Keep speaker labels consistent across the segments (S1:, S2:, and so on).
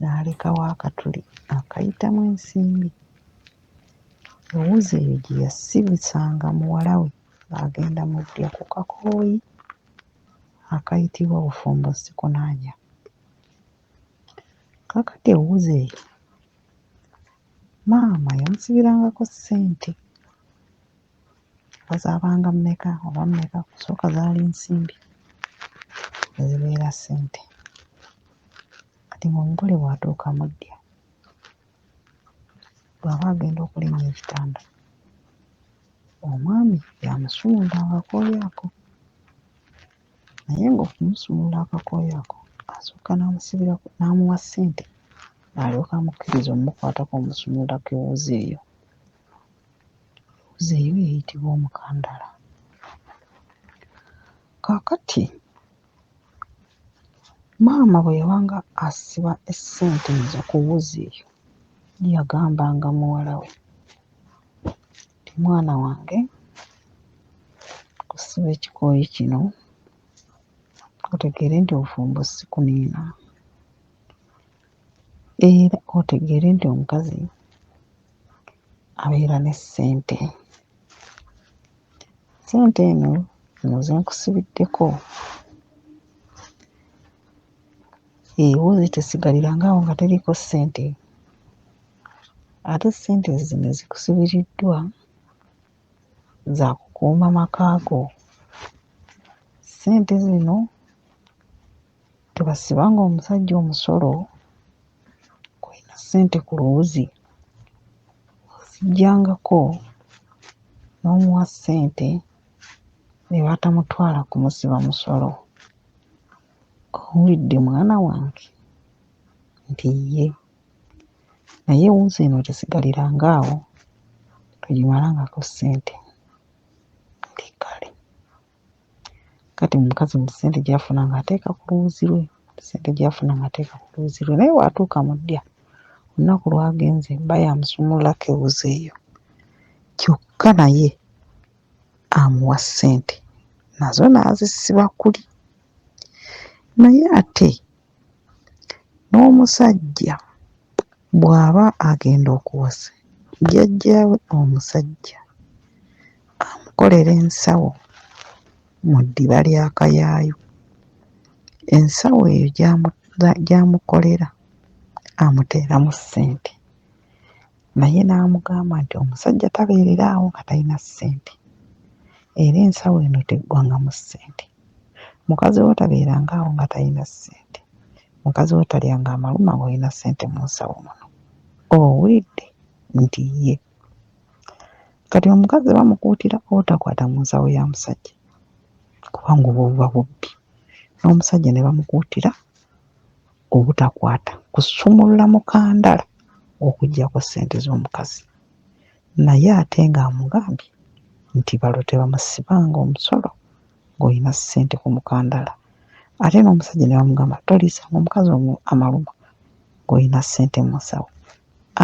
S1: n'alekawo akatuli akayitamu ensimbi. Ewuzi eyo gye yasibisanga muwala we ng'agenda mu ddya ku kakooyi akayitibwa bufumbo sikunaanya. Kaakati ewuzi eyo maama yamusibirangako ssente oba zaabanga mmeka oba mmeka okusooka zaali nsimbi ne zibeera ssente. Kati nga omugole bw'atuuka mu ddya, bw'aba agenda okulinnya ekitanda, omwami y'amusuula akakooyi ako naye ng'okumusuula akakooyi ako asooka n'amusibira n'amuwa ssente alyoke amukkirize okumukwatako omusuulako ewuzi eyo. Ewuzi eyo eyitibwa omukandaala. Kaakati Maama bwe yabanga asiba essente ezo ku wuzi eyo yagambanga muwala we nti mwana wange osiba ekikooyi kino otegeere nti obufumbo si kuniina era otegeere nti omukazi abeera ne ssente. Ssente eno zino ze nkusibiddeko ewuwe tesigalirangawo awo nga teriiko ssente ate ssente zino ezikusibiriddwa za kukuuma maka go. Ssente zino Tebasiba ng'omusajja omusolo kw'olina ssente ku luwuzi oziggyangako n'omuwa ssente ne batamutwala kumusiba musolo. Owulidde mwana wange nti ye naye wuzi eno tesigaliranga awo togimalangako ssente. Ndi kale. Kati omukazi mu ssente gy'afuna ng'ateeka ku lubuzzi lwe, ssente gy'afuna ng'ateeka ku lubuzzi lwe naye bw'atuuka mu ddya olunaku lw'agenze bba y'amusumululako ewuzi eyo kyokka naye amuwa ssente nazo n'azisiba kuli naye ate N'omusajja bw'aba agenda okuwasa jjajjaawe omusajja amukolera ensawo mu ddiba lya kayaayu. Ensawo eyo gy'amu gy'amukolera amuteeramu ssente naye n'amugamba nti omusajja tabeerera awo nga talina ssente era ensawo eno teggwangamu ssente. Mukazi wo tabeeranga awo nga talina ssente. Mukazi wo talyanga amaluma ng'olina ssente mu nsawo muno. Owulidde nti ye? Kati omukazi bamukuutira obutakwata mu nsawo ya musajja kubanga obwo buba bubbi. N'omusajja ne bamukuutira obutakwata kusumulula mukandala okuggyako ssente z'omukazi. naye ate ng'amugambye nti balo tebamusibanga omusolo ng'olina ssente ku mukandala ate n'omusajja ne bamugamba toliisanga omukazi omu amaluma ng'olina ssente mu nsawo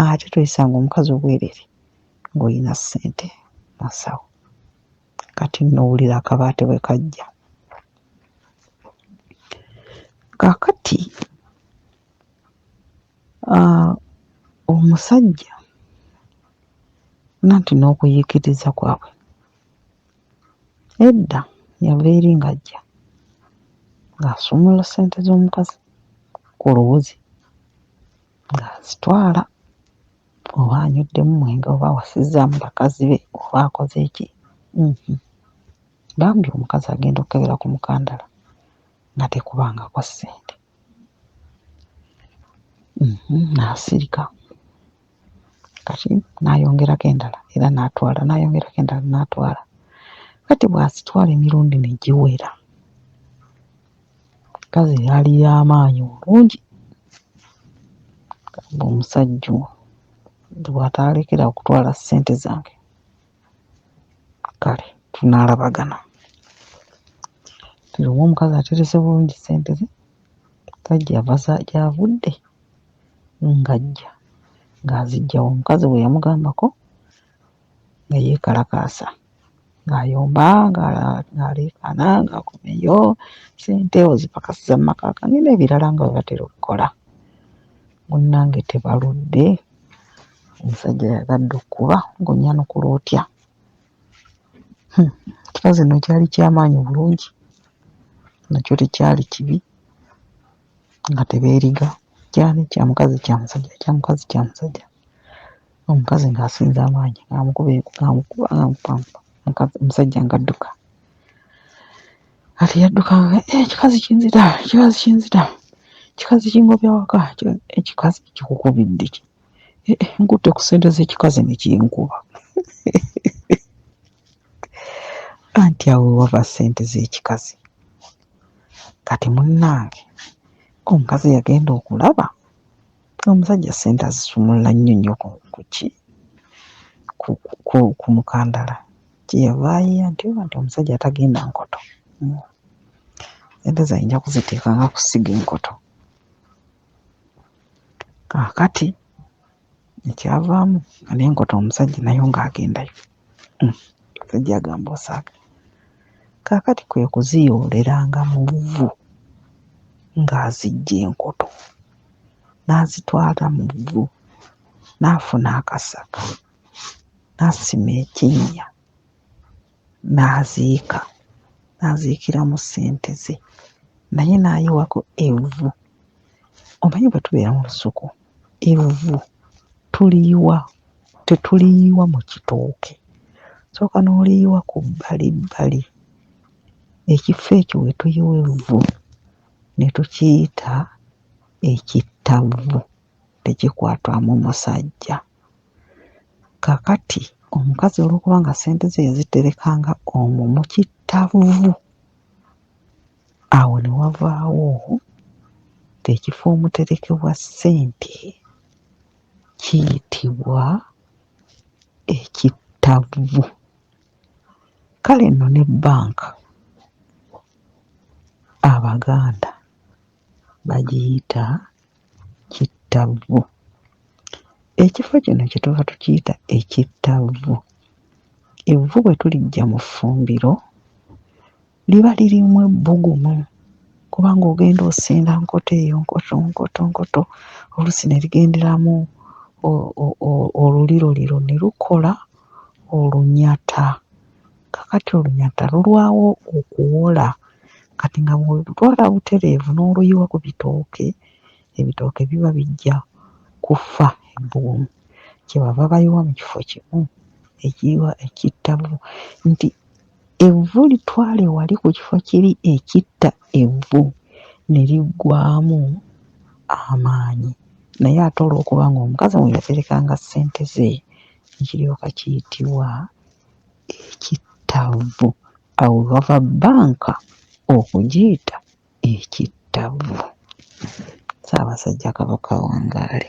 S1: ate toyisanga omukazi obwereere ng'olina ssente mu nsawo kati nno wulira akabaate bwe kajja kaakati ah, omusajja nanti n'okuyiikiriza kwabwe edda yava eri ng'ajja ng'asumula ssente z'omukazi ku luwuzi ng'azitwala oba anyweddemu mwenge oba awasizzaamu bakazi be oba akoze ki uhmm bambi omukazi agenda okkebera ku mukandala nga tekubangako ssente uhmm n'asirika kati n'ayongerako endala era n'atwala n'ayongerako endala n'atwala kati bw'azitwala emirundi ne giwera Omukazi eyali y'amaanyi obungi ng'omusajja ono nti bw'ataalekera awo kutwala ssente zange kale tunaalabagana. Kati oba omukazi aterese bulungi ssente ze kuba gy'ava za gy'avudde ng'ajja ng'aziggya wa? Omukazi bwe yamugambako. nga yeekalakaasa ng'ayomba ng'aleekaana ng'akomyeyo ssente ozipakasiza mu maka gange n'ebirala nga bwe batera okukola. Munnange tebaludde omusajja yagadde okukuba ng'onnyanukula otya? Huh ekikazi nno kyali kya maanyi bulungi nakyo tekyali kibi. nga tebeeriga ky'ani kya mukazi kya musajja kya mukazi kya musajja omukazi ng'asinza amaanyi ng'amukuba ng'amukuba ng'amukuba muka musajja ng'adduka kati yadduka nga ee ekikazi kinzita ekikazi kinzita ekikazi kingobya waka kika ekikazi kikukubidde ki ee eh, nkutte ku ssente z'ekikazi ne kinkuba anti awo we wava ssente z'ekikazi. Kati munnange omukazi yagenda okulaba omusajja ssente azisumulula nnyo nnyo ku ku ki ku ku ku mukandala kye yava ayiiya nti oba nti omusajja atagenda nkoto mm ssente ze ayinza kuziteeka nga kusiga enkoto kaakati ekyavaamu nga nenkota omusajja nayo nga agendayo hmm. omusajja agamba osaaga kakati kwe kuziyoolelanga mu vvu ng'azijja enkoto n'azitwala mu vvu n'afuna akasaka n'asima ekinnya n'aziika n'aziikiramu ssente ze naye n'ayiwako evvu. Omanyi bwe tubeera mu lusuku evvu tuliyiwa tetuliyiwa mu kitooke, osooka n'oliyiwa ku bbalibbali ekifo ekyo we tuyiwa evvu ne tukiyita ekittavvu tekikwatwamu musajja. Kaakati omukazi olw'okuba nga ssente ze yaziterekanga omwo mu kittavvu, awo ne wavaawo ng'ekifo omuterekebwa ssente kiyitibwa ekittavvu. Kale nno ne bbanka Abaganda bagiyita Kittavvu. Ekifo kino kye tuva tukiyita ekittavvu. Evvu bwe tuliggya mu ffumbiro liba lirimu ebbugumu kubanga ogenda osinda nkoto eyo nkoto nkoto nkoto oluusi ne ligenderamu o o o oluliroliro ne lukola olunyata Kakati olunyata lulwawo okuwola kati nga bwolutwala butereevu n'oluyiwa ku bitooke, ebitooke biba bijja kufa ebbugumu. Kye bava bayiwa mu kifo kimu ekiyiwa ekitta bu nti evvu litwale wali ku kifo kiri ekitta evvu ne liggwaamu amaanyi naye ate olw'okuba ng'omukazi mwe yaterekanga ssente ze ne kiryoka kiyitibwa. ekittavvu. Awo bava bbanka okugiyita ekittavvu. Ssaabasajja Kabaka awangaale.